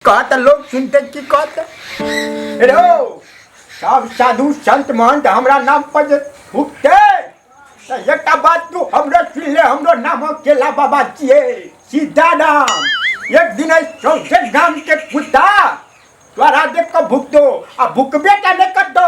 कहत लोग सुनते की कहत रे हो, सब साधु संत महंत हमरा नाम पर जे फूकते त एकटा बात तू हमरो सुन ले हमरो नाम केला बाबा छिए सीधा नाम एक दिन ऐ सौंसे गाम के कुत्ता तोरा देख के भुकतो आ भुकबे टा नहि करतो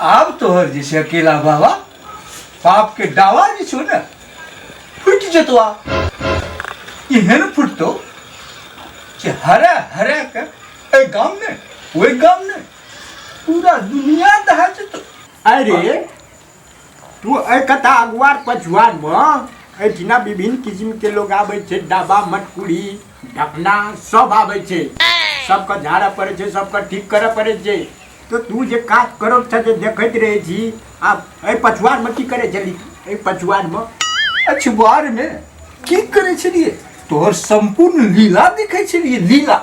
आब तोहर जे छै अकेला बाबा पाप के डावा जे छौ ने फुटि जेतो आ एहन फुटतो जे हरे हरे के एहि गाम ने ओहि गाम ने पूरा दुनिया दहा जेतो अरे तू एहि कथा अगुआर पछुआरमे एहिठिना विभिन्न किसिमके लोक आबै छै डाबा मटकुरी ढकना सब आबै छै सबके झाड़ऽ पड़ै छै सबके ठीक करऽ पड़ै छै तऽ तू जे काज करऽ छऽ जे देखैत रहै छी आब एहि पछुआरमे की करै छली एहि पछुआरमे अछबारमे की करै छलियै तोहर सम्पूर्ण लीला देखै छलियै लीला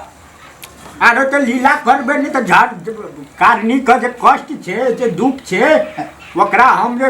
आरो तऽ लीला करबै नहि तऽ झाड़ कारणी के जे कष्ट छै जे दुख छै ओकरा हम जे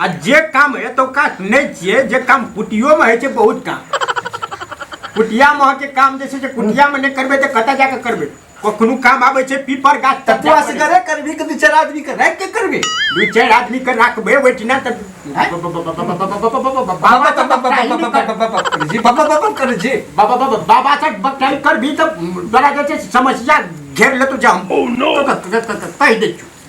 आ जे काम एतौका सुनै छियै जे काम कुटियोमे होइ छै बहुत काम कुटियामे अहाँके काम जे छै से कुटियामे नहि करबै तऽ कतऽ जाकऽ करबै कखनो काम आबै छै पीपर गाछ तक तू असगरे करबी कि दू चारि आदमी के राखि के करबी दू चारि आदमी के राखबै ओहिठिना तऽ बाबा तऽ बकटाही नहि कर- जी बाबा बाबा कर जी बाबा बाबा बाबा से बकटाही करबी तऽ तोरा जे छै से समस्या घेर लेतौ जे हम कहि दै छियौ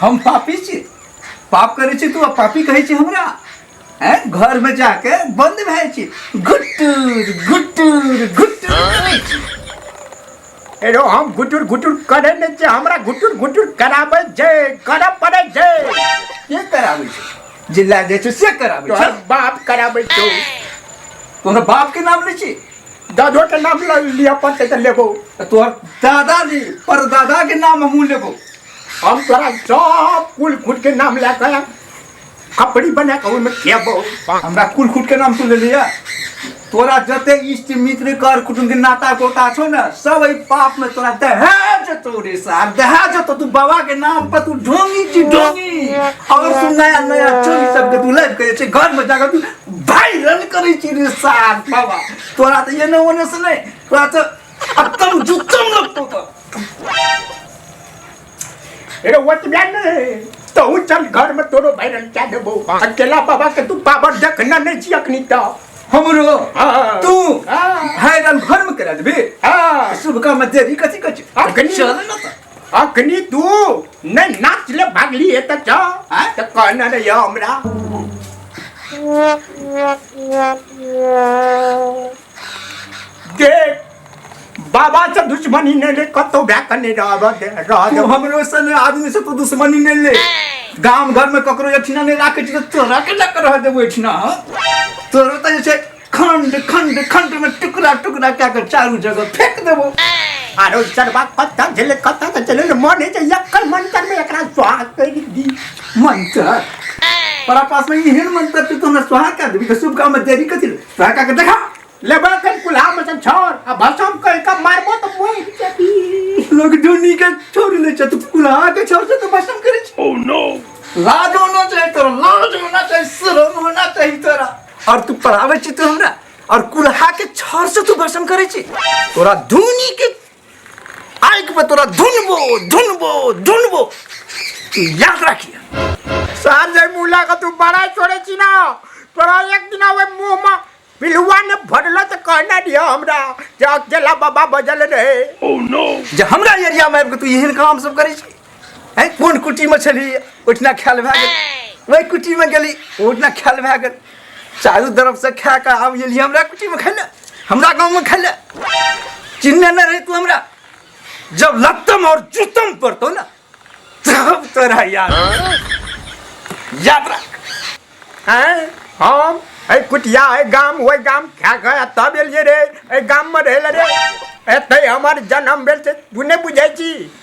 हम पापी छी पाप करै छी तू आ पापी कहै छी हमरा हैं घर में जाके बंद भए छी गुट्टूर गुट्टूर गुट्टूर करै छी। एरो हम गुटुर गुटुर करे ने जे हमरा गुटुर गुटुर कराबै जे करऽ पड़ै जे के कराबै छी जिल्ला जाइ छी से कराबै तोहर छी बाप कराबै छौ तोहर बाप के नाम लै छी दादो के नाम ल लिअ पड़तै तऽ लेबो तोहर दादाजी परदादा के नाम हमहूँ लेबो हम तोरा सब कुल खुद के नाम ले के कपड़ी बना के ओहिमे खेबो हमरा कुल खुद के नाम सुन लेलिए तोरा जते इष्ट मित्र कर कुटुम के नाता गोता छो ना सब एहि पाप में तोरा दहेज तो रे सार दहेज तो तू बाबा के नाम पर तू ढोंगी छी ढोंगी और तू नया नया चोरी सब के तू लाइफ करे छी घर में जाकर तू भाई रन करे छी रे सार बाबा तोरा तो ये ना होने से नहीं तोरा तो खत्म जुत्तम लगतो तो अरे वो तो जान तो हूँ चल घर में तोरो भैरल क्या देबो अकेला बाबा के तू पावर देखना नहीं छी अखनी तो हमरो हाँ। तू हाँ। भैरल घर में करा देबे हाँ। शुभ काम देरी कथी कछ अखनी चल ना तो अखनी तू नहीं नाच ले भागली है तो जा हाँ? तो कहना रे या हमरा देख बाबा से दुश्मनी नहीं ले कतो भ्या करने रह रह तू हमरो सन आदमी से तू दुश्मनी नहीं ले गांव घर में ककरो एठिना नहीं राखे छी तो तोरा के लक रह देबो एठिना हाँ? तोरो तो जैसे खंड खंड खंड में टुकड़ा टुकड़ा क्या कर चारू जगह फेंक देबो आरो चरवा कत्ता झेले कत्ता तो चले मन है जइया कल मन कर में एकरा स्वाग कर दी मंत्र तोरा पास में एहन मंत्र छै तो हमरा स्वाहा कर देबी तो शुभ काम में देरी कथी ले? तोहर का के देखा लेबा के कुल्हा में से छोड़ आ भसम कर का मारबो तो मोर जबी लोग ढूंढी के छोड़ ले छ तू कुल्हा के छोड़ से तो भसम करे छ ओह नो लाज होना चाहिए तोरा लाज होना चाहिए शर्म होना चाहिए तोरा और तू पढ़ावे छी तू हमरा और कुल्हा के छोड़ से तू भसम करे छी तोरा ढूंढी के आँखि पर तोरा धुनबो धुनबो धुनबो तू याद राखिए संजय मूला का तू बड़ा छोड़े छी ना तोरा एक दिन आवे मुंह में पिलुआ ने भरल तो कहना दिया हमरा जे अकेला बाबा बजल रहे जब हमरा एरिया में आबि कऽ तू एहन काम सब करै छी है कोन कुटीमे छली ओहिठिना खायल भए गेल ओहि कुटीमे गेली ओहिठिना खायल भए गेल चारू तरफसँ खाए कऽ आब गेली हमरा कुटीमे खाय लए हमरा गाँवमे खाय लए चिन्हने नहि रही तू हमरा जब लत्तम और जूतम पड़तो ना तब तोरा याद याद रख हैं हम ऐ कुटिया ऐ गाम ओइ गाम खा खा तब एलिए रे ऐ गाम में रहल रे एते हमर जन्म भेल छै तू नहि बुझै छी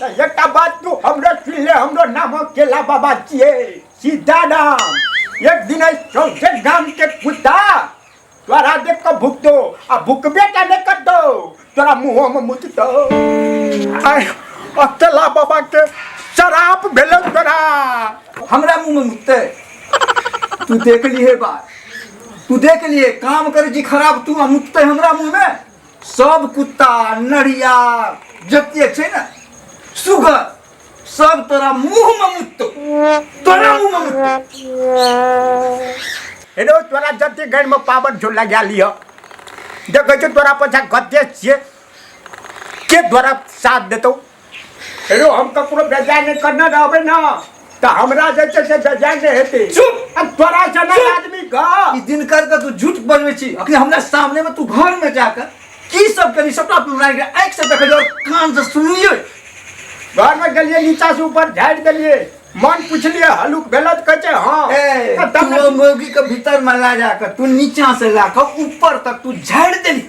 तऽ एकटा बात तू हमरा सुन ले हमरो नाम केला बाबा छियै सीधा नाम एक दिन एहि सौंसे गामके कुत्ता तोरा देख कऽ भुकतो आ भुकबे टा नहि करतो तोरा मुँहोमे मुततो आय आ केला बाबाके शराप भेलौ तोरा हमरा मुंह में मुतते तू देख लिए बात तू देख लिए काम कर जी खराब तू आ मुतते हमरा मुंह में सब कुत्ता नढ़िया जते छै ने सुगर सब तोरा मुंह में मुत्तो तोरा मुंह में मुत्तो हेलो तोरा जते घर में पावर झोला गया लियो देखै छौ तोरा पछा कते छियै के तोरा साथ देतौ हेलो हम ककरो बेजाय नहीं करना रहबे ना तो हमरा जे छै से बेजाय नहीं हेते चुप अब तोरा जना आदमी गा ई दिन कर के तू झूठ बनवे छी अखने हमरा सामने में तू घर में जाकर की सब करी सबटा हमरा के आंख से देखै और कान से सुनलियो घर में गलिए नीचा से ऊपर झाड़ देलिए मन पूछलिए हलुक भेलत कहै छै हां ए तब तू मौगी के भीतर में ला जाकर तू नीचा से लाकर ऊपर तक तू झाड़ देली